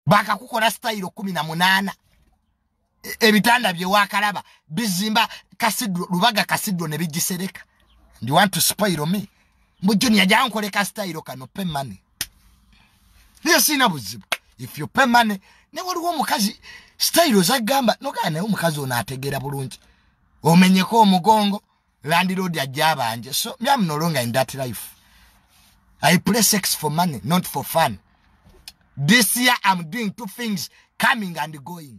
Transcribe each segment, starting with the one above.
bakakukola sitayiro kumi na munaana e, ebitanda byewakalaba bizimba kasidro lubaga kasidro ne bigisereka ndi want to spoil me mbu junior jankoleka sitayiro kano pe money naye siina buzibu if you pay money ne waliwo omukazi sitayiro zagamba nogaa naye omukazi ono ategeera bulungi omenyeko omugongo landlord ajja abanje so me am no longer in that life i play sex for money not for fun this year i'm doing two things coming and going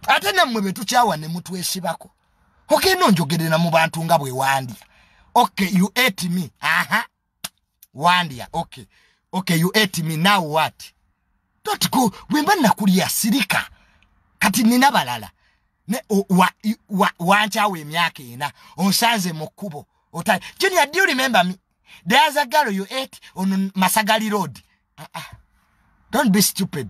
ate nammwe be tukyawa ne mutwesibako ogenda onjogerera mu bantu nga bwe wandya okay you ate me aha uh -huh. wandya okay okay you ate me now what don't go bwemba nakulya sirika kati nina balala ne wankyawo wa, wa emyaka ena onsanze mu kkubo otai junior do you remember me there's a girl you ate on masagali road ah, ah. don't be stupid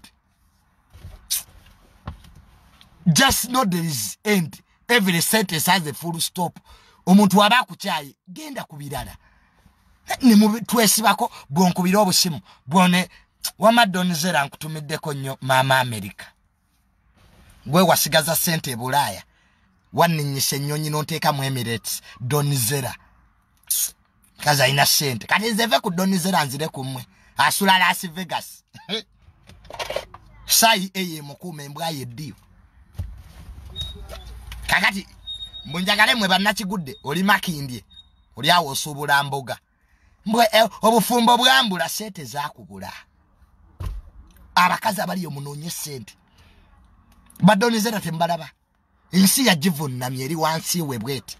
just know there is end every sentence has a full stop omuntu waba akukyaye genda ku birala twesibako bwonkubira obusimu bwone wamadonizera nkutumiddeko nnyo maama amerika gwe wasigaza sente ebulaaya wanninyisa ennyonyi nonteeka mu emirates donizera kazi alina sente kati nze ve ku donizera nzire ku mmwe asula las vegas sayi eyo emukuuma embwa yeddiyo kakati mbunjagale mwe bannakigudde oli makindye oli awo osuubula mboga mbwe eh, obufumbo bwambula sente zakubula abakazi abaliyo munoonye sente badonizera tembalaba ensi yagivunnamye eri wansi we bweti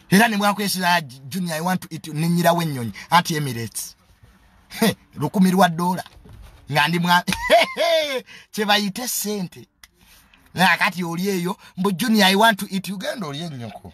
era nemwakwesira junior i want to eat ninyirawo ennyonyi anti emirates lukumi lwa dola nga ndi mwa kyebayite sente nakati oli eyo mbu junior i want to eat ugenda oli ennyoko